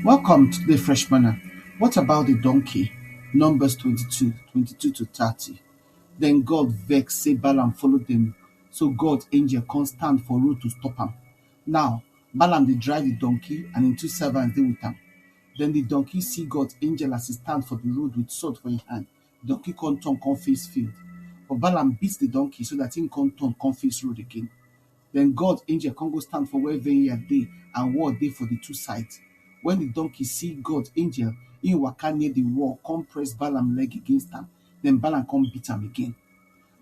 Welcome today fresh manna, what about the donkey? Numbers twenty-two, twenty-two to thirty. Then God vex say Balaam follow them, so God angel come stand for road to stop am. Now Balaam dey drive the donkey and him two servants dey with am. Then the donkey see God angel as he stand for the road with sword for him hand. Donkey come turn come face field, but Balaam beat the donkey so that him come turn come face road again. Then God angel come go stand for where vineyard dey and wall dey for the two sides. When the donkey see God angel, him waka near the wall come press Balaam leg against am, then Balaam come beat am again.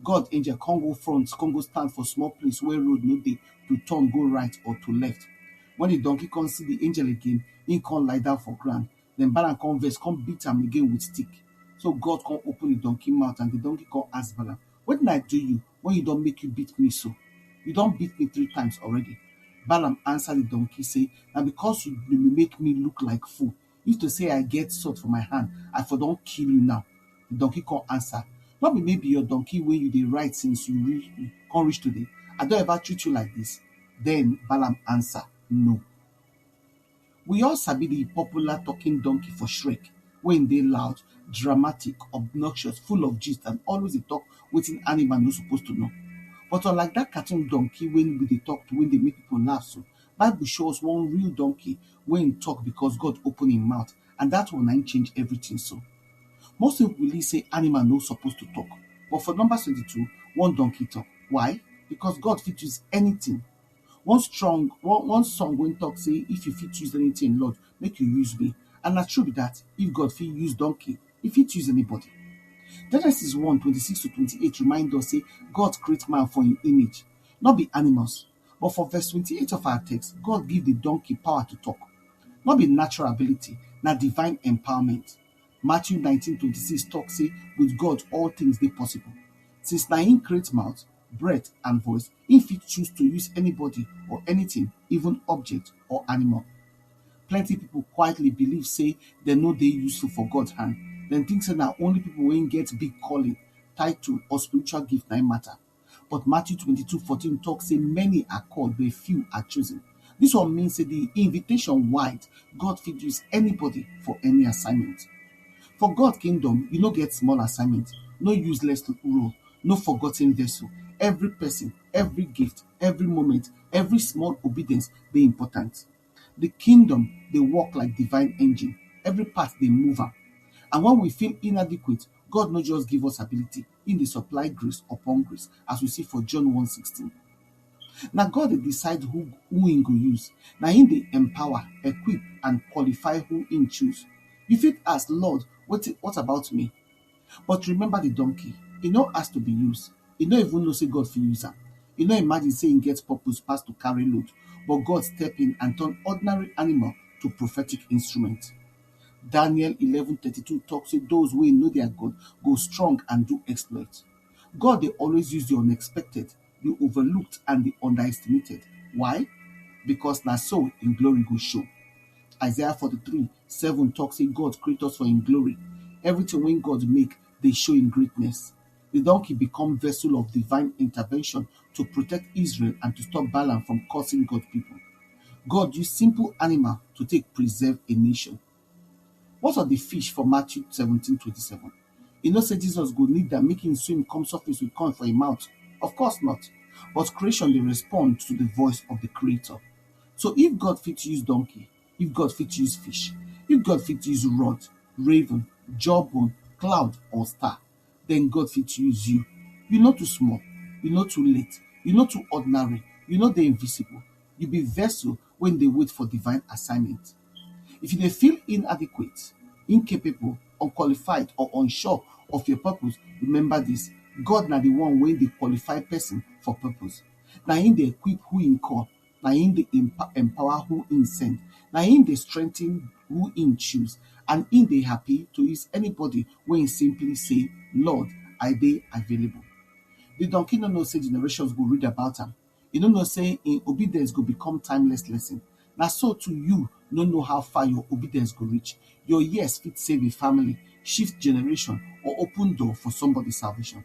God angel come go front come go stand for small place where road no dey to turn go right or to left. When the donkey come see the angel again, him come lie down for ground, Den Balaam kon vex, kon beat am again with stick. So God kon open di donkey mout and di donkey kon ask Balaam, Wetin I do you wen you don make you beat me so? You don beat me three times already. Balaam ansa di donkey sey, Na bikos you dey make me look like fool. If to sey I get sword for my hand, I for don kill you now. Di donkey kon ansa, Nor be me be your donkey wey you dey ride since you kon reach today? I don ever treat you like dis? Den Balaam ansa, No. We all sabi di popular talking donkey for Shrek wey im dey loud, dramatic, obnoxious, full of gist and always dey talk wetin animal no suppose to know. But unlike dat cartoon donkey wey no dey talk to wey dey make pipo laugh so, bible show us one real donkey wey im talk becos God open im mouth and dat one na im change everytin so. Most pipo believe sey animal no suppose to talk but for Numbers twenty two, one donkey talk. Why? Becos God fit use anytin One strong one one song wey talk say if you fit use anything Lord make you use me and na true be that if God fit use donkey he fit use anybody Genesis one twenty six to twenty eight remind us say God create man for him image no be animals but for verse twenty eight of our text God give the donkey power to talk no be natural ability na divine empowerment Matthew nineteen twenty six talk say with God all things dey possible. Since na him create mouth, breath and voice, him fit choose to use anybody or anything even object or animal. Plenty people quietly believe say dem no dey useful for God hand, dem think say na only people wey get big calling, title or spiritual gift na him matter. But Matthew twenty two fourteen talk say many are called but few are chosen. This one mean say the invitation wide, God fit use anybody for any assignment. For God kingdom, you no get small assignment, no useless role, no forgotten vessel. Every person, every gift, every moment, every small obedience dey important. The kingdom dey work like divine engine, every part dey move am. And when we feel inadequate, God no just give us ability, im dey supply grace upon grace as we see for John one sixteen na God dey decide who who im go use na im dey empower equip and qualify who im choose you fit ask Lord wetin what about me but remember the donkey e no ask to be used e no even know say God fit use am e no imagine say im get purpose pass to carry load but God step in and turn ordinary animal to prophetic instrument Daniel 11:32 talk say those wey know their God go strong and do exploit. God dey always use the unexpected, the overlooked and the underestimated. Why? Because na so im glory go show. Isaiah 43, 7 talk say God create us for im glory. Everything wey God make dey show im greatness. Di donkey become vessel of divine intervention to protect Israel and to stop Balaam from cursing God people. God use simple animal to take preserve a nation. What of di fish for Matthew seventeen twenty seven? You know say Jesus go need am make him swim come surface with coin for im mouth? Of course not. But creation dey respond to di voice of di creator. So if God fit use donkey, if God fit use fish, if God fit use rod, raven, jawbone, cloud or star, then God fit use you. You no too small, you no too late, you no too ordinary, you no dey invisible. You be vessel wey dey wait for divine assignment. If you dey feel inadequate, incapable, unqualified or unsure of your purpose, remember this, God na the one wey dey qualify person for purpose. Na him dey equip who him call. Na him dey empower who him send Na him dey strengthen who him choose And him dey happy to use anybody wey him simply say Lord I dey available The donkey no know say generations go read about am He no know say him obedience go become timeless lesson Na so too you no know how far your obedience go reach Your yes fit save a family, shift generation or open door for somebody salvation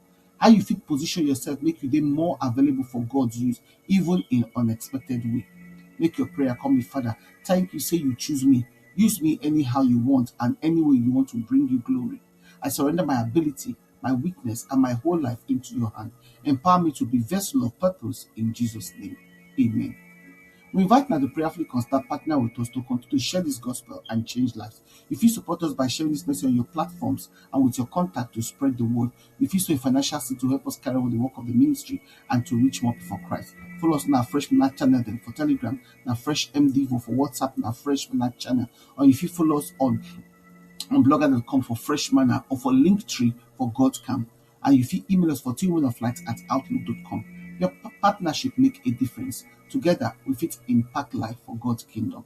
How you fit position yourself make you dey more available for God use even in unexpected way? Make your prayer come be Father, thank you say you choose me. Use me anyhow you want and any way you want to bring you glory. I surrender my ability, my weakness and my whole life into your hand. Empower me to be vessel of purpose in Jesus name. Amen. We invite now the prayerfully constant partner with us to continue to share this gospel and change lives. You fit support us by sharing dis message on your platforms and with your contact to spread di word. You fit sow a financial seed to help us carry on di work of di ministry and to reach more pipo for Christ. Follow us on our Fresh Muna channel dem for Telegram, na Fresh MDivo for WhatsApp, na Fresh Muna channel. Or you fit follow us on on blogger.com for Fresh Manna or for Linktree for God Camp. And you fit email us for twomenoflight at outlook.com. Your pa- partnership make a difference. Together, we fit impact life for God's kingdom.